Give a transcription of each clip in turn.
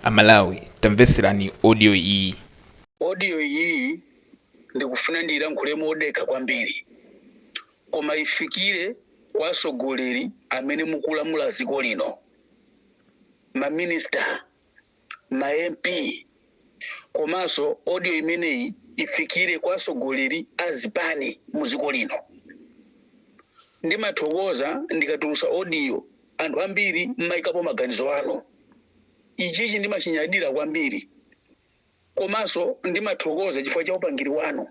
Amalawi tamvetserani audio iyi. Audio iyiyi ndikufuna ndiilankhule modekha kwambiri koma ifikire kwa atsogoleri amene mukulamula dziko lino, ma minister, ma MP komanso audio imeneyi ifikire kwa atsogoleri a zipani mu dziko lino. Ndimathokoza ndikatulutsa audio anthu ambiri mmayikapo maganizo anu. Ichichi ndimachinyadira kwambiri komanso ndimathokoza chifukwa cha upangiri wanu.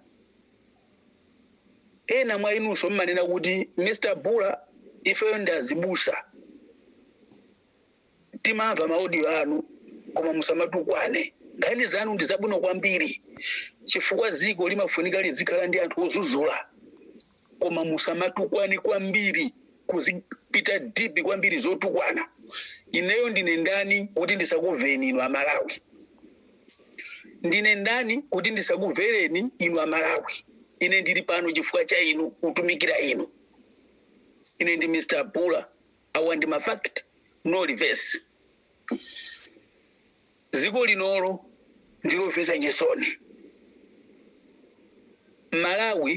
Ena mwa inunso mmanena kuti Mr Bula ifeyo ndi azibusa timamva maaudio anu koma musamatukwane. Nkhani zanu ndi zabwino kwambiri chifukwa dziko limafunika lizikhala ndi anthu odzudzula. koma musamatukwane kwambiri kuzipita deep kwambiri zotukwana ineyo ndine ndani kuti ndisakuveni inu amalawi ndine ndani kuti ndisakuvereni inu amalawi ine ndili pano chifukwa cha inu kutumikira inu ine ndi mr bula awa ndi mafact no reverse Dziko linolo ndilomvetsa chisoni. Malawi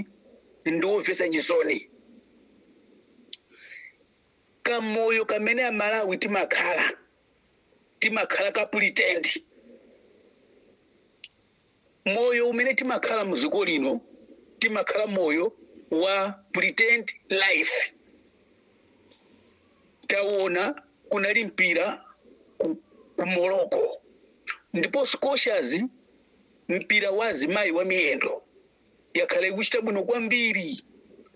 ndiwomvetsa chisoni. Kamoyo kamene a Malawi timakhala, timakhala ka pretend. moyo umene timakhala mu dziko lino timakhala moyo wa pretend life taona kunali mpira ku, ku morocco ndipo Scorchers mpira wa azimayi wa miyendo yakhala ikuchita bwino kwambiri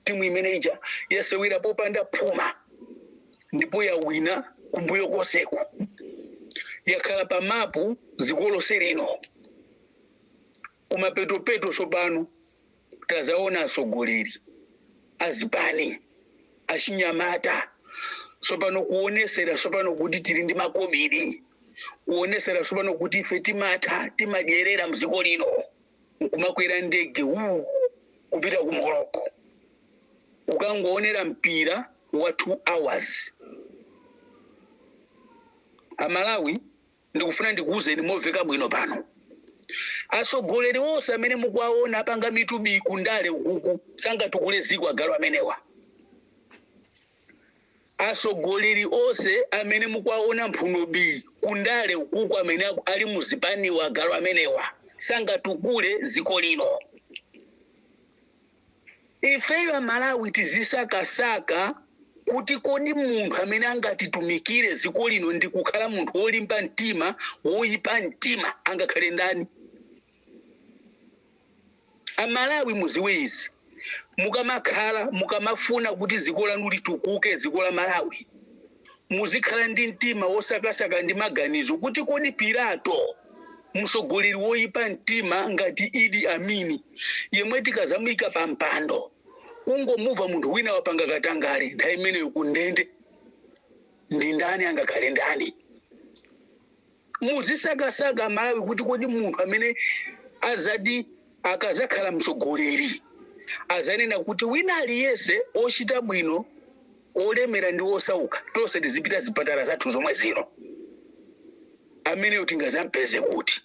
timu imene ija yasewera popanda phuma ndipo yawina kumbuyo konseku yakhala pa mapu dziko lonse lino kumapetopeto tsopano tazaona atsogoleri azipani achinyamata tsopano kuonesera tsopano kuti tili ndi makobiri kuonesera tsopano kuti ife timatha timadyerera mdziko lino nkumakwera ndege wuu kupita ku morocco kukangoonera mpira wa 2 hours amalawi ndikufuna ndikuwuzeni moveka bwino pano atsogoleri onse amene mukuwaona apanga mitubi kundale ukuku sangatukule ziko agalu amenewa Asogoleri ose amene mukuwaona mphuno bi kundale ukuku amene ali muzipaniwa agalu amenewa sangatukule ziko lino. Ifeyo amalawi tizisaka saka kuti kodi munthu amene angatitumikile ziko lino ndikukhala munthu wolimba mtima woipa mtima angakhale ndani. Amalawi muziwe izi mukamakhala mukamafuna kuti ziko lanu litukuke ziko la Malawi muzikhala ndi mtima wosakasaka ndi maganizo kuti kodi Pilato msogoleri woyipa mtima ngati Idi Amini yemwe tikazamuyika pa mpando kungomuva munthu wina wapanga katangale nthawi imeneyo kundende ndi ndani angakhale ndani muzisakasaka malawi kuti kodi munthu amene azati akazakhala msogoleri azanena kuti wina aliyese ochita bwino olemera ndi osauka tonse tizipita zipatala zathu zomwe zino ameneyo tingazampeze kuti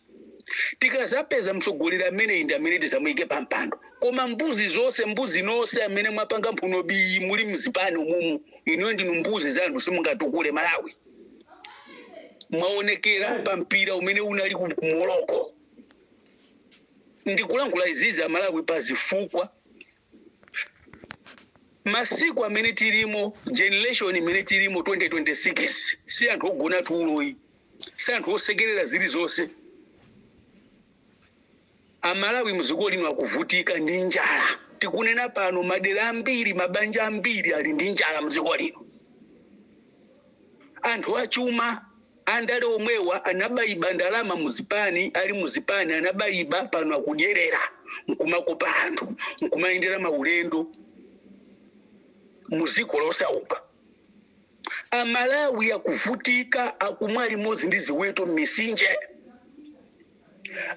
tikazapeza msogoleri ameneyi ndi amene tizamuyike pa mpando koma mbuzi zonse mbuzi nonse amene mwapanga mphuno bi muli mzipani umumu inuyo ndinu mbuzi za anthu simungatukule malawi mwaonekera pa mpira umene unali ku morocco ndikulankhula izizi amalawi pa zifukwa masiku amene tilimo generation imene tilimo 2026 si anthu ogona tuloyi si anthu osekerera zilizonse Amalawi mdziko lino akuvutika ndi njala. Tikunena pano madera ambiri, mabanja ambiri ali ndi njala mdziko lino. Anthu achuma, andale omwewa anaba iba ndalama mu zipani, ali mu zipani anaba iba, pano akudyerera nkumakopa anthu nkumayendera maulendo mu ziko losauka. Amalawi akuvutika, akumwa limodzi ndi ziweto m'misinje.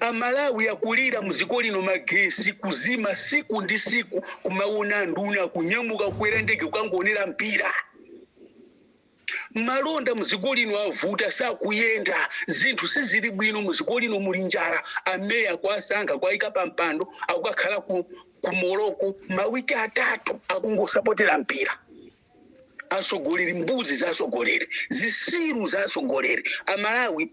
Amalawi akulira mziko lino magesi kuzima siku ndi siku kumawona anduna kunyamuka kukwera ndege kukangowonera mpira. Malonda muziko lino avuta sakuyenda zinthu sizili bwino muziko lino muli njala ameya kuwasankha kuwayika pampando akukakhala ku Morocco mawiki atatu akungosapotera mpira. asogoleri mbuzi za asogoleri zisiru za asogoleri amalawi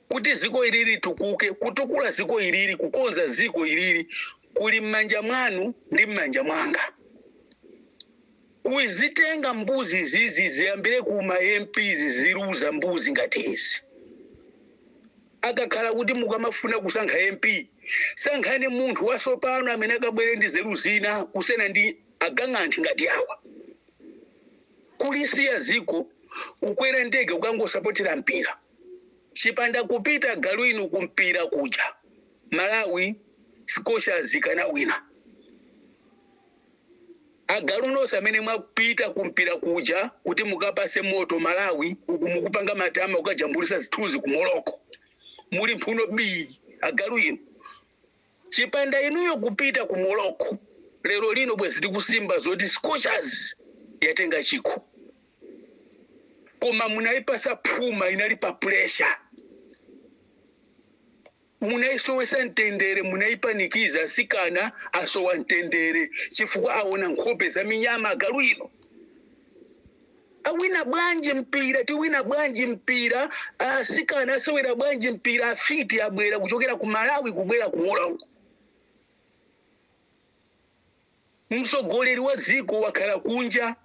kuti ziko ili litukuke kutukula ziko ilili kukonza ziko ilili kuli m'manja mwanu ndi m'manja mwanga kuzitenga mbuzi izizi ziyambire ku ma mps ziziluza mbuzi ngati izi akakhala kuti mukamafuna kusankha mp sankhani munthu wasopano amene akabwere ndi zeru zina kusena ndi agang'anthi ngati awa kulisiya ziko kukwera ndege kukangosapotera mpira chipanda kupita agalu inu kumpira kuja malawi Scorchers ikanawina agalu nonse amene mwapita kumpira kuja kuti mukapase moto malawi uku mukupanga matama kukajambulisa zithunzi ku Morocco muli mphuno bii agalu inu Chipanda inuyo kupita ku Morocco lero lino bwezi tikusimba zoti Scorchers yatenga chikho. Koma munayipasa phuma inali pa pressure. Munayisowesa mtendere, munayipanikiza sikana asowa mtendere chifukwa awona nkhope za minyama agalu ino. awina bwanji mpira tiwina bwanji mpira asikana asewera bwanji mpira afiti abwera kuchokera ku malawi kubwera ku Morocco msogoleri wa ziko wakhala kunja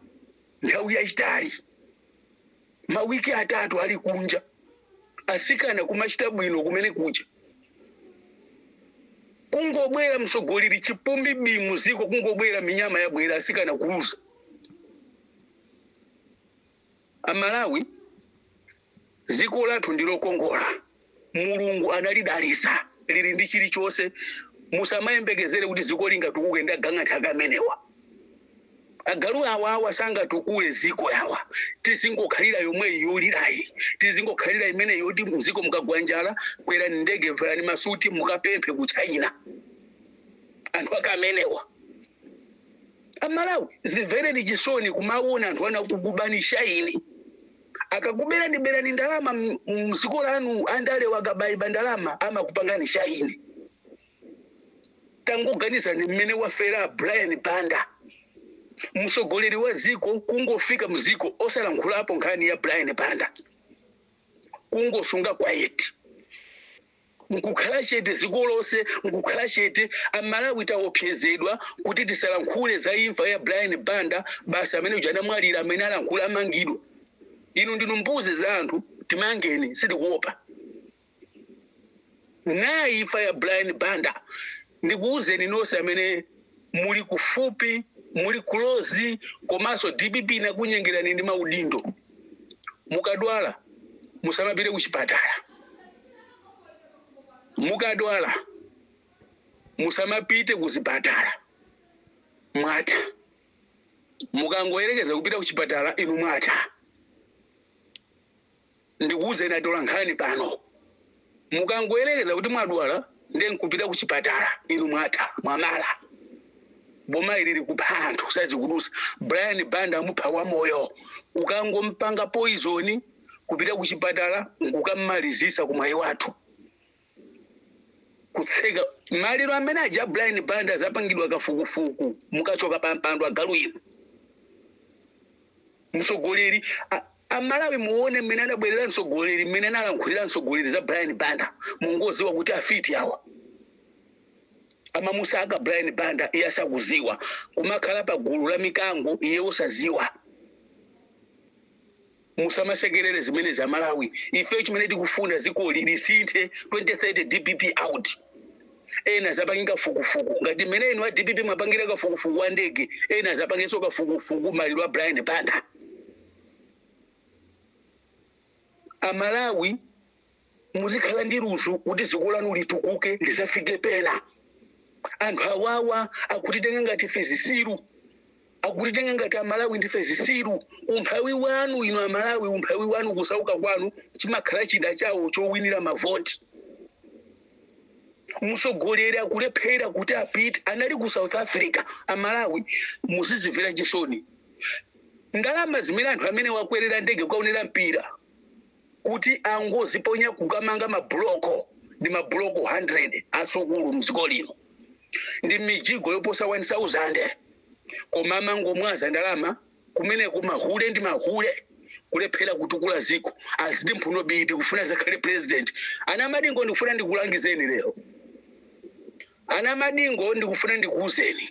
nthawi yayitali mawiki atatu ali kunja asikana kumachita bwino kumene kuja kungobwera msogoleri chipumbi bi mu ziko kungobwera minyama yabwera asikana kuluza Amalawi ziko lathu ndi lokongola, Mulungu analidalisa lili ndi chilichonse. Musamayembekezere kuti ziko lingatukuke ndi agang'anthi ake amenewa. Agalu awa awa sangatukule ziko awa. Tizingokhalira yomweyi yolirayi, tizingokhalira imene yoti mziko mukagwa njala kwerani ndege, valani masuti mukapemphe ku China. Anthu ake amenewa. amalawi zimvereni chisoni kumawona anthu ana akukubani shaini akakuberani berani ndalama m- mziko lanu andalewa akabayiba ndalama amakupangani shaini tangoganizani mmene wafera brian banda msogoleri wa ziko kungofika mziko osalankhulapo nkhani ya brian banda kungosunga quiet nkukhala chete ziko lonse nkukhala chete amalawi taopsezedwa kuti tisalankhule za imfa ya brian banda basi amene uja anamwalira amene alankhula amangidwa inu ndinu mbuzi za anthu timangeni sitikuopa nayi imfa ya brian banda ndikuwuzeni nonse amene muli kufupi muli kulozi komanso dpp inakunyengerani ndi maudindo mukadwala musamapite ku chipatala mukadwala musamapite kuzipatala mwatha mukangoyerekeza kupita kuchipatala inu mwatha ndikuwuzeni atola nkhani pano mukangoyerekeza kuti mwadwala nde nkupita ku chipatala inu mwatha mwamwala boma ili likupha anthu sazikudusa brian banda amupha wamoyo ukangompanga poizoni kupita ku chipatala nkukammalizisa ku mwayi wathu kutseka maliro amene aja brian banda azapangidwa kafukufuku mukachoka pa mpando agalu inu mtsogoleri a- amalawi muone mmene adabwerera mtsogoleri mmene analankhulira mtsogoleri za brian banda mungoziwa kuti afiti awa amamusaka brian banda iye asakuziwa kumakhala pa gulu la mikango iye osaziwa musamasekerere zimene za malawi ife chimene tikufuna zikoli lisinthe 2030 dpp out ena azapange kafukufuku ngati mmene inu a dpp mwapangira kafukufuku wa ndege ena azapangenso kafukufuku maliro a brian banda amalawi muzikhala ndi luso kuti dziko lanu litukuke lizafike pena anthu awawa akutitenga ngati ife zisiru akutitenga ngati amalawi ndife zisiru umphawi wanu inu amalawi umphawi wanu kusauka kwanu chimakhala chida chawo chowinira mavoti mtsogoleri akulephera kuti apite anali ku south africa amalawi muzizimvera chisoni ndalama zimene anthu amenewa akwerera ndege kukaonera mpira kuti anangoziponya kukamanga mabuloko ndi mabuloko 100 asukulu mdziko lino ndi mijigo yoposa 1000 koma amangomwaza ndalama kumeneko mahule ndi mahule kulephera kutukula ziko aziti mphuno biti kufuna azakhale president ana madingo ndikufuna ndikulangizeni lero ana madingo ndikufuna ndikuuzeni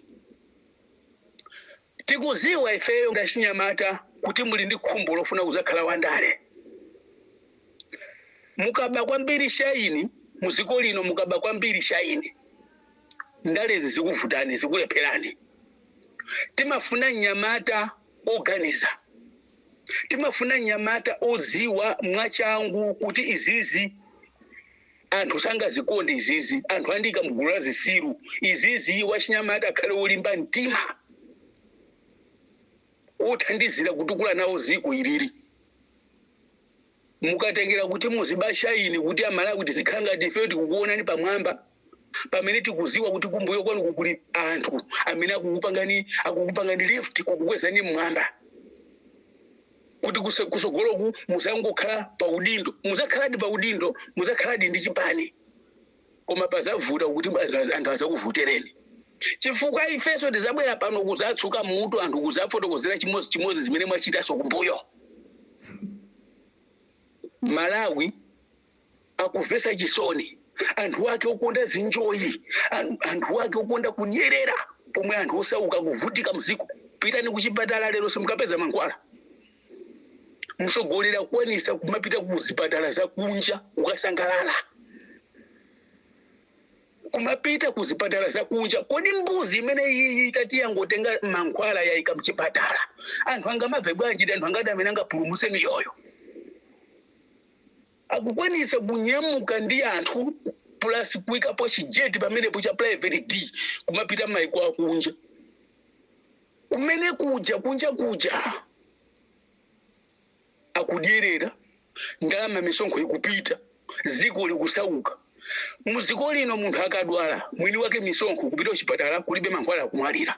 Tikuziwa ifeyo ngati achinyamata kuti muli ndi khumbo lofuna kuzakhala wandale. Mukuba kwambiri shayini muziko lino mukuba kwambiri shayini. Ndalezi zikuvutani zikulepherani. Timafuna mnyamata oganiza. Timafuna mnyamata oziwa mwachangu kuti izizi. anthu sangazikonde izizi anthu andiika mgulu la zisiru izizi wachinyamata akhale wolimba mtima wothandizira kutukula nawo ziko ilili mukatengera kuti muzibasha ine kuti amalawi tizikhala ngati ifeyo tikukuonani pamwamba pamene tikuziwa kuti kumbuyo kwanuku kuli anthu amene akukupangani akukupangani lift kukukwezani mmwamba kuti kuse- kusogoloku muzangokhala pa udindo muzakhaladi pa udindo muzakhaladi ndi chipani koma pazavuta kuti az- anthu azakuvotereni chifukwa ifenso tizabwera pano kuzatsuka mutu anthu kuzafotokozera chimodzi chimodzi zimene mwachitaso kumbuyo malawi akumvetsa chisoni anthu ake okonda zinjoyi an- anthu ake okonda kudyerera pomwe anthu osauka akuvutika mziko pitani kuchipatala lero simukapeza mankhwala mtsogoleri akukwanisa kumapita ku zipatala za kunja kukasangalala kumapita ku zipatala za kunja kodi mbuzi imene iyi itati yangotenga mankhwala yayika mchipatala anthu angamabve bwanji ndi anthu angati amene angapulumutse miyoyo akukwanitsa kunyamuka ndi anthu plus kuikapo chijeti pameneepo cha private jet kumapita maiko akunja kumene kuja kunja kuja akudyerera ndalama misonkho ikupita ziko likusauka muziko lino munthu akadwala mwini wake misonkho kupita kuchipatala kulibe mankhwala akumwalira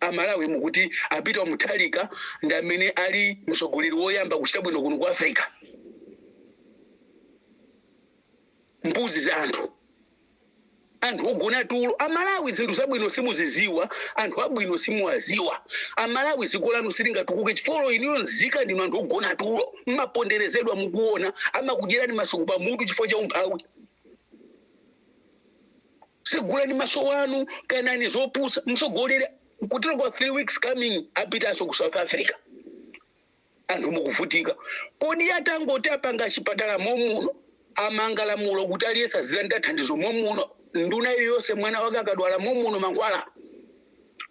Amalawi mukuti a Peter Mutharika ndi amene ali mtsogoleri woyamba kuchita bwino kuno ku Africa? Mbuzi za anthu, anthu ogona tulo. Amalawi zinthu zabwino simuziziwa, anthu abwino simuwaziwa. Amalawi ziko lanu silingatukuke chifukwa inuyo nzika ndinu anthu ogona tulo, mmaponderezedwa mukuona, amakudyerani masuku pamutu chifukwa cha umphawi. Tsegulani maso anu, kanani zopusa, mtsogoleri kutero kwa 3 weeks coming apitanso ku South Africa. Anthu mukuvutika. Kodi atangoti apanga chipatala momuno, amanga lamulo kuti aliyense azilandira thandizo momuno, nduna iliyonse mwana wake akadwala momuno mankhwala?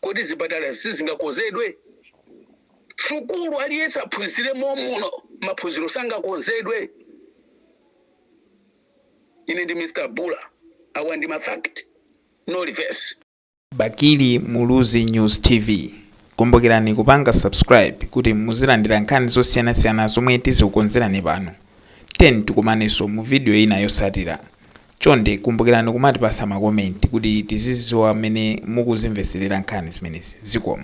Kodi zipatala sizingakonzedwe? Sukulu aliyense aphunzire momuno, maphunziro sangakonzedwe? ine ndi Mr Bula awa ndi ma fact no reverse. Bakili Muluzi News TV. Kumbukirani kupanga subscribe kuti muzilandira nkhani zosiyanasiyana zomwe tizikukonzerani pano. Tiyeni tikumanenso mu video ina yotsatira. Chonde kumbukirani kumatipatsa makomenti kuti tizidziwa mmene mukuzimvetserera nkhani zimenezi. Zikomo.